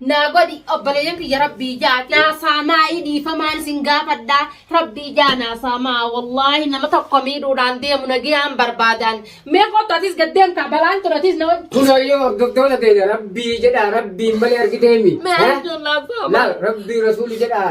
Naa godhi obboleeyyan kiyya rabbii jaa naa saamaa i dhiifamaan isin gaafadhaa rabbii jaa naa saamaa wallaahi nama tokko miidhuudhaan deemu nagiyaan barbaadaan mee kottu atis gad deemtaa balaan tun atis na wajji Kunooyyuu hordoftoota keenya rabbii jedhaa rabbiin malee argiteemi. Mee arjuu laafaa Laal rabbii rasuuli jedhaa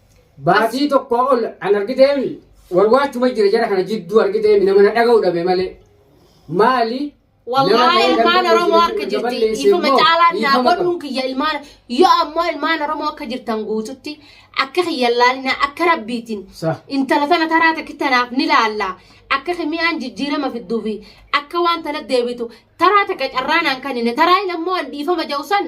Baatii tokkoo ol an argiteemi warwaachuma jira jara kana jidduu argiteemi nama na dhaga'u dhabe malee. Maali? Wallaahi ilmaan Oromoo akka jirti ifuma caalaan naa godhuun kiyya ilmaan yoo ammoo ilmaan Oromoo akka jirtan guututti akka kiyya laalina akka rabbiitiin intala tana taraa takki tanaaf ni laalla akka kimiyaan jijjiirama fidduufi akka waan tana deebitu taraa takka carraanaan kanine taraa ilmoo dhiifama ja'u san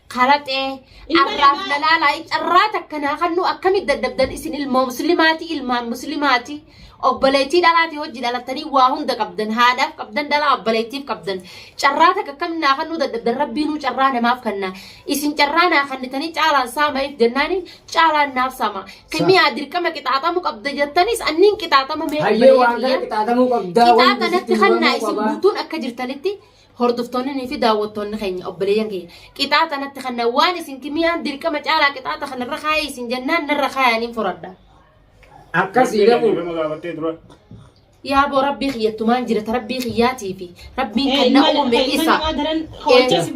Karaxee arraaf lalaalaa carraa takka naa kannuu akkamitti daddabdan isin ilmoo muslimaati ilmaan muslimaati obboleettii dhalaati hojii dhalattanii waa hunda qabdan haadhaaf qabdan dhalaa obboleettiif qabdan carraa takka akkam naa kannuu daddabdan rabbiinuu carraa namaaf kanna isin carraa naa kannitanii caalaan saama'iif jennaani caalaan naaf saama kimiyaa dirqama qixaaxamu qabda jettanis anniin qixaaxama mee Hayyee waan kana qixaaxamuu qabdaa. qixaaxa natti kannaa isin guutuun akka jirtanitti hordoftoonni fi daawwattoonni keenya obboleeyyan keenya qixaaxa natti kanna waan isin kimiyaan dirqama caalaa qixaaxa kanarra kaayee isin jennaan narra kaayaniin furadha. Akkasii gabu. Nama gaafattee dura. Yaa boo rabbii kiyyattumaan jirata rabbii kiyyaatii fi rabbiin kan na uume isa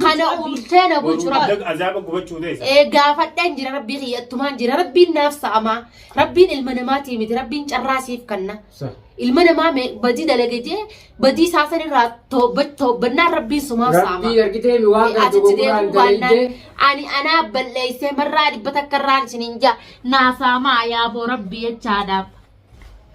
kana uumtee na bulchu rabbi. Boru azaaba gubachuu teessa. Ee gaafadheen jira rabbii kiyyattumaan jira rabbiin naaf sa'amaa rabbiin ilma namaatii miti rabbiin carraa siif kanna. Sa. ilma namaa me- badii dalage jee badii isaa san irraa toobba- toobbannaan rabbiin sumaa saama. Rabbii argitee mi waan kana Asitti dogogoraan deemuu baannaan dalaydee. ani anaa balleessee marraa dhibba takka irraan isiniin jaa naa saamaa yaaboo rabbii jechaadhaaf.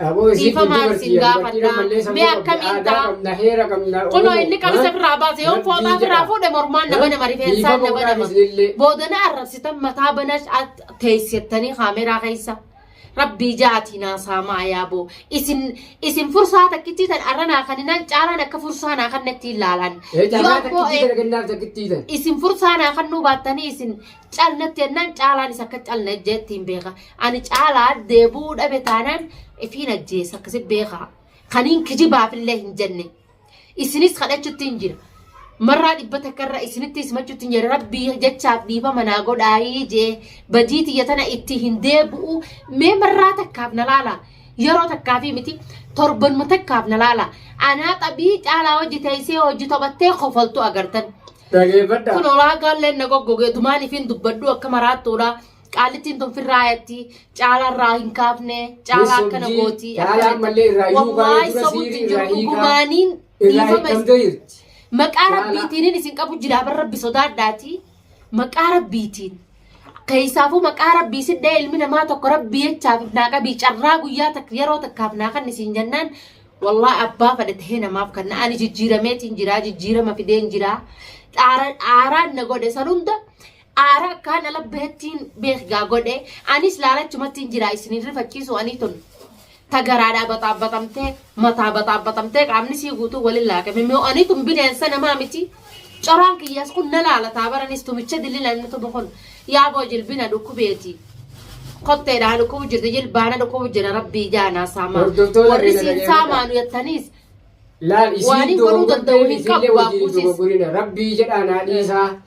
Aboo isiin Dhiifama dubartii isin dubartii gaafadha. ammallee sammuu Mee qabdi. akkamiin Aadaa ta'a? qabna, heera qabna. Kunoo Oromoo, inni qabisa ha? birraa baase yoo Rabbii fooxaa birraa jedha. fuudhe mormaan nama nama rifeensaan Dhiifama nama godhaaf nama. isinillee. Boodana arrabsitan mataa banash teessettanii kaameraa keessa. Rabbii jaatii naa saamaa yaa boo isin isin fursaa takkittii tan arra naa kaninaan caalaan akka fursaa naa kannettiin laalaan Ee yoo caalaa ammoo takkittii tana kennaaf takkittii tana. isin fursaa naa kannuu baattanii isin calnatti jennaan caalaan isa akka calna jettiin beeka ani caalaa deebuu dhabe taanaan ifiin ajjeessa akkasi beeka kaniin kijibaafillee hin jenne isinis kadhachutti hin jira marraa dhibba takka irra isinitti ismachutti hin jira rabbii jechaaf dhiifama naa godhaayii jee badii tiyya tana itti hin deebi'u mee marraa takkaaf na laala yeroo takkaafii miti torbanuma takkaaf na laala anaa xabii caalaa hojii teessee hojii taphattee kofaltu agartan. Dhageeffadha. kun olaa gaalleen na goggogee dumaan ifiin dubbadhu akka maraattuudha Qaalittiin tun firraa yatti caalaa irraa hin kaafne caalaa akkana gooti. Caalaa ammallee irraa iyyuu kaa'ee Wallaahi dura sobutti siirii jiru irraa hiikaa dhugumaaniin irraa dhiifama isin hiikamtee jirti. maqaa Caalaa. rabbiitiin isin qabu jilaaban rabbi sodaadhaati maqaa rabbiitiin keessaafuu maqaa rabbii sidhee ilmi namaa tokko rabbii jechaaf naa qabii carraa guyyaa takka yeroo takkaaf naa kan isin jennaan wallaahi abbaa fedhe tahee namaaf kan na ani jijjiirameetiin jiraa jijjiirama fideen jiraa dhaara dhaaraan na godhe san hunda Aara akkaa na labbeettiin beekgaa godhe anis laalachumattiin jira isinin rifachiisu anii tun ta garaadhaa baxaabaxamtee mataa baxaabaxamtee qaamni sii guutuu walin laaqame moo anii tun bineensa namaa miti coraan kiyyaas kun na laalataa baranis tumicha dillila inni tumu kun yaaboo jilbina dhukkubeeti kotteedhaa dhukkubu jirti jilbaana dhukkubu jira rabbii jaanaa saamaa Hordoftoota warri keenya siin dhaggeeffadhaa. saamaanu yattaniis Laal Waan isiin hin godhuu danda'u hin dogoggortee qabu, isiillee wajjin hin baakkuusis. dogoggorina. Rabbii jedhaa naa dhiisaa.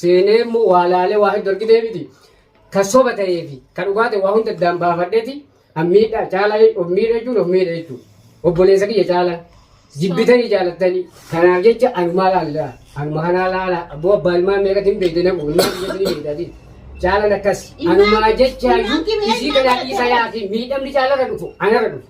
seenee immoo waa laalee waa heddu argitee miti kan soba ta'ee fi kan dhugaa ta'e waa hunda addaan baafadheeti an miidha caalaa of miidha jechuun of miidha jechuudha obboleessa kiyya caalaa jibbitanii jaalattanii kanaaf jecha anumaa laallaa anuma kanaa laalaa abboo abbaa ilmaan meeqatti hin beekte naqu ilmaan biyyatti ni beektaati caalan akkas anumaa jecha iyyuu isii kanaa dhiisa yaafi miidhamni caalarra dhufu anarra dhufu